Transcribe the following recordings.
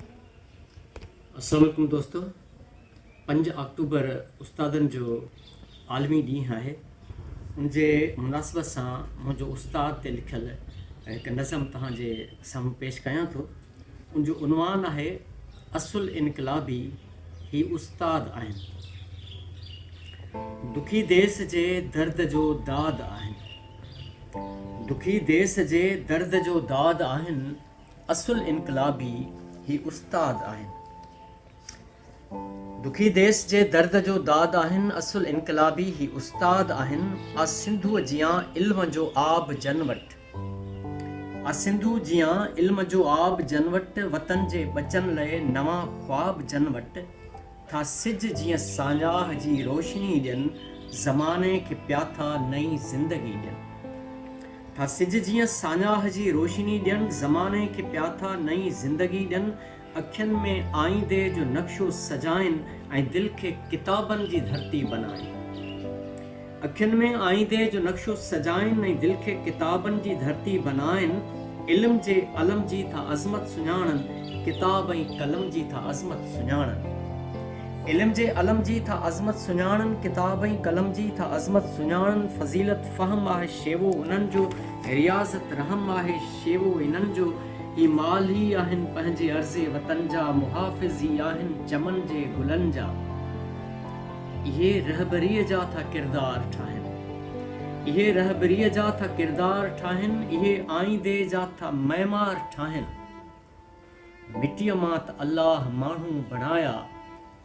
السلام عليڪم دوستو پنج آڪٽوبر استادن جو عالمي ڏينهن آهي ان جي مناسبت سان منهنجو استاد تي لکيل هڪ نظم توهان جي سامهون پيش ڪيان ٿو ان جو عنوان آهي اصل انقلابي هي استاد آهن دکي ديس جي درد جو داد آهن دکي ديس جي درد جو داد آهن اصل انقلابي هي استاد آهن. دکي ديس جي درد جو داد آهن. اصل انقلابي هي استاد آهن. آ سنڌوء جيان علم جو آب جن وٽ. آ سنڌوء جيان علم جو آب جن وٽ. وطن جي ٻچن لئه نوان خواب جن وٽ. ٿا سج جيئن ساڃاهه جي روشني ڏين زماني کي پياٿا نئين زندگي ڏين ٿا سج جيئن ساڃاهه جي روشني ڏين زماني کي پياٿا نئين زندگي ڏين اکين ۾ آئيندي جو نقشو سجائين ۽ دل کي ڪتابن جي ڌرتي بنائين. اکين ۾ آئيندي جو نقشو سجائين ۽ دل کي ڪتابن جي ڌرتي بنائين، علم جي علم جي ٿا عظمت سڃاڻن، ڪتاب ۽ قلم جي ٿا عظمت سڃاڻن. علم جي علم جي ٿا عظمت سڃاڻن، ڪتاب ۽ قلم جي ٿا عظمت سڃاڻن، فضيلت فهم آهي شيوو انهن جو، رياضت رحم آهي شيوو انهن جو، هي مال ئي آهن پنهنجي عرض وطن جا، محافظ ئي آهن چمن جي گلن جا. اهي رهبريء جا ٿا ڪردار ٺاهن اهي رهبريء جا ٿا ڪردار ٺاهن اهي آئيندي جا ٿا معمار ٺاهن مٽيء مان ته الله ماڻهو بڻايا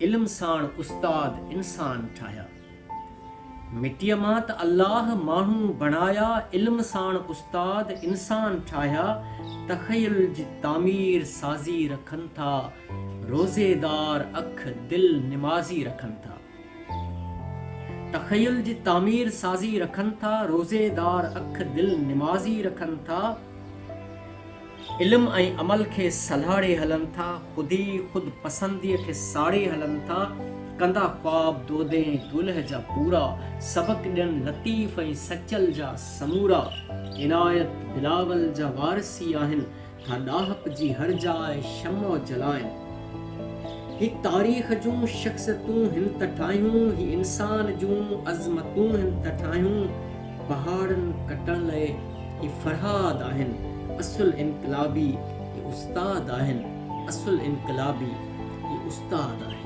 علم ساڻ استاد انسان ٺاهيا مٽيء مان ته الله ماڻهو بڻايا علم ساڻ استاد انسان ٺاهيا تخيل جي تعمير سازي رکن ٿا روزيدار اک دل نمازي رکن ٿا. تخيل جي تعمير سازي رکن ٿا روزيدار اک دل نمازي رکن ٿا علم ۽ عمل کي سلهاڙي هلن ٿا خودي خود پسندي کي ساڙي هلن ٿا ڪندا خواب دودين دولهه جا پورا سبق ڏين لطيف ۽ سچل جا سمورا عنايت بلاول جا وارثي آهن ٿا ڏاهپ جي هر جاء شمع جلائين هي تاريخ جون شخصيتون هن ته ٺاهيون هي انسان جون عظمتون هن ته ٺاهيون پهاڙن ڪٽڻ لئه هي فرهاد آهن اصل انقلابي هي استاد آهن اصل انقلابي هي استاد آهن.